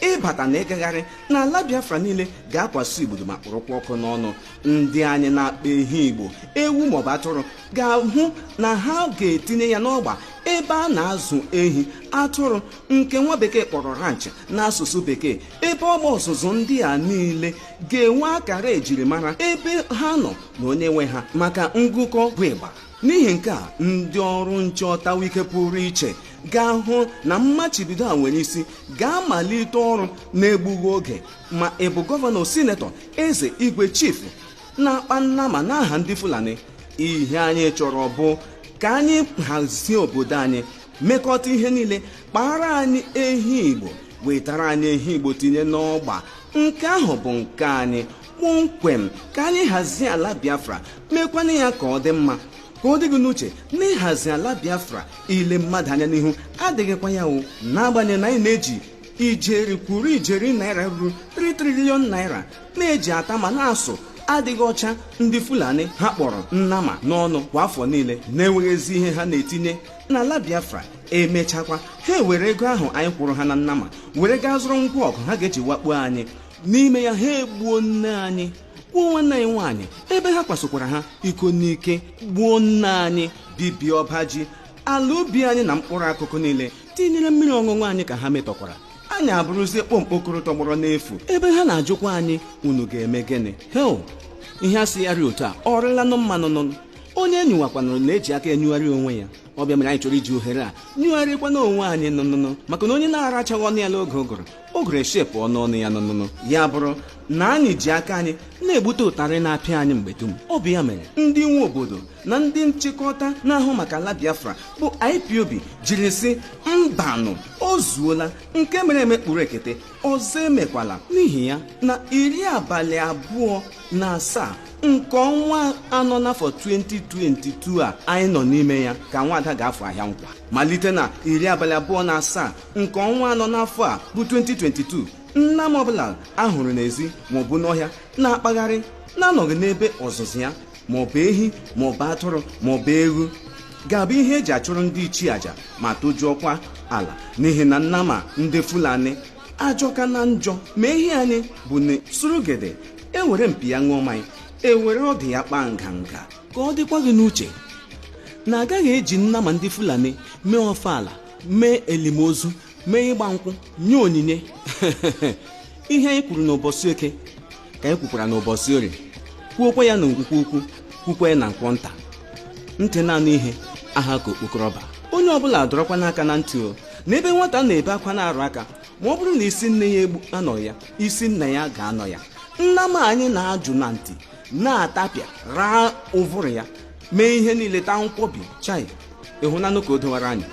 ịbata na ịgagharị n'ala biafra niile ga-akwaso igbudu ma kpụrụkwa ọkụ n'ọnụ ndị anyị na-akpa ehi igbo ewu maọbụ atụrụ ga-ahụ na ha ga-etinye ya n'ọgba ebe a na-azụ ehi atụrụ nke nwa bekee kpọrọ ranch n'asụsụ bekee ebe ọgba ọzụzụ ndị a niile ga-enwe akara ejirimara ebe ha nọ na onye nwe ha maka ngụkọ bụ ịgba n'ihi nke a ndị ọrụ nche ọtawa ike pụrụ iche ga-ahụ na mmachibido a nwere isi ga-amalite ọrụ na-egbughị oge ma ị bụ gọvanọ sinetọ eze igwe chifu na-akpa nnama n'aha ndị fulani ihe anyị chọrọ bụ ka anyị hazie obodo anyị mekọta ihe niile kpaara anyị ehi igbo wetara anyị ehi igbo tinye n'ọgba nke ahụ bụ nke anyị kpọmkwem ka anyị hazie ala biafra meekwanụ ya ka ọ dị mma ka ọ dị gị n'uche na ịhazi ala biafra ile mmadụ anya n'ihu adịghịkwa ya o n'agbanyeghị na anyị na-eji ijeri kwuru ijeri naira ruru 3 trillion naira na-eji ata ma na-asụ adịghị ọcha ndị fulani ha kpọrọ nnama n'ọnụ kwa afọ niile na-enweghị ezi ihe ha na-etinye n'ala biafra emechakwa ha ewere ego ahụ anyị kwụrụ ha na nnama were gaa zụrụ ngwa ọgụ ha ga-eji wakpuo anyị n'ime ya ha egbuo nne anyị gbuo nwanne anyị nwaanyị ebe ha kwasokwara ha iko n'ike gbuo nne anyị bibie ọba ji ala ubi anyị na mkpụrụ akụkụ niile tinyere mmiri ọṅụṅụ anyị ka ha metọkwara anyị abụrụzie kpọmkpọkọrọ tọgbọrọ n'efu ebe ha na-ajụkwa anyị unu ga-eme gịnị hei ihe a sịgharị otu a ọrịlanụ mmanụ nụ onye nyụwakwanụrụ na-eji aka enyụgharị onwe ya ọ bụ ya mere anyị chọrọ iji ohere a nyụgharịkwana onwe anyị nụnụnụ maka na onye na-arachaghị ọnụ ya n'oge ụgụrụ ụgụrụ eshepụ ọnụ ọnụ ya nụnụnụ ya bụrụ na anyị ji aka anyị na-egbute ụtarị na-apịa anyị mgbe dum ọ bụ ya mere ndị nwe obodo na ndị nchịkọta na-ahụ maka ala Biafra bụ IPOB jiri sị mbanụ o zuola nke mere eme kpuru ekete ọzọ emekwala n'ihi ya na iri abalị abụọ na asaa nke ọnwa anọ n'afọ 2022 a anyị nọ n'ime ya ka nwada ga-afụ ahịa nkwa malite na iri abalị abụọ na asaa nke ọnwa anọ n'afọ a bụ 2022 nnama ọbụla ahụrụ n'ezi maọbụ n'ọhịa na-akpagharị na-anọghị n'ebe ọzụzụ ya maọbụ ehi maọbụ atụrụ maọbụ ewu ga-abụ ihe eji achụrụ ndị ichie aja ma tojuokwa ala n'ihi na nnama ndị fulani ajọka na njọ ma ehi anyị bụ na surugede ewere mpi ya ṅụọ mmanya ewere ọdụ ya kpaa nganga ka ọ dịkwa gị n'uche na agaghị eji nnama ndị fulani mee ọfala mee elimozu mee ịgba nkwụ nye onyinye ihe anyị kwuru n'ụbọchị eke ka anyị kwukwara n'ụbọchị orie kwuokwa ya na nkwọ ukwu ukwu kwukwa ya na nkwọ nta ntị na-anụ ihe aha ka okpokoro ọba onye ọbụla dọrọkwanụ aka na ntị o na ebe nwata na-ebe akwa na-arụ aka ma ọ bụrụ na isi nne ya egbu anọ ya isi nna ya ga-anọ ya nnama anyị na-ajụ na ntị na-atapịa raa ụvụrụ ya mee ihe niile taa nkwọbi chai ị hụnanụ ka o dowara anyị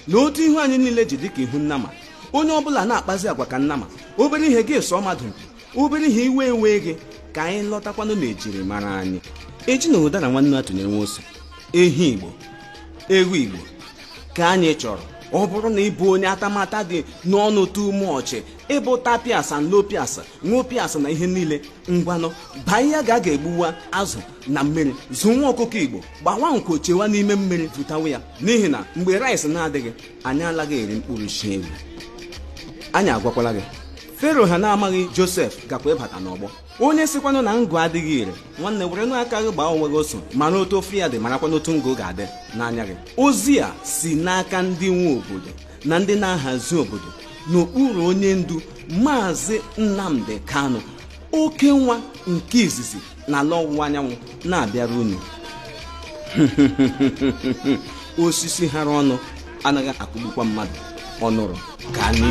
na otu ihu anyị niile ji dịka ihu nnama onye ọbụla na-akpazi agwa ka nnama obere ihe gị sụọ mmadụ mpi obere ihe iwe ewe gị ka anyị lọtakwanụ n'ejiri mara anyị ejina ụdara nwa enwe atụnyere nwa ụsụ ehi igbo ewu igbo ka anyị chọrọ ọ bụrụ na ị bụ onye atamata dị n'ọnụ too much ị bụ tapiasa nlopiasa nwopiasa na ihe niile ngwanụ baa iyi gaa ga egbuwa azụ na mmiri zụ nwa ọkụkọ igbo gbawa nko chewa n'ime mmiri vutawa ya n'ihi na mgbe rice na-adịghị anyị alaghị eri mkpụrụ shị ewu anyị agwakwala gị fero ha na-amaghị josef gakwa ịbata n'ọgbọ onye sikwanụ na ngụ adịghị ire nwanne werenụ aka gị gbaa onwe gị oso mara otu ụfụ ya dị marakwanụ otu ngụ ga-adị n'anya gị ozi a si n'aka ndị nwe obodo na ndị na-ahazi obodo n'okpuru onye ndu maazị nnamdi kanu oke nwa nke izizi n'ala ọwụwa anyanwụ na-abịara unu osisi hara ọnụ anaghị akụgbukwa mmadụ ọ nụrụ ka anyị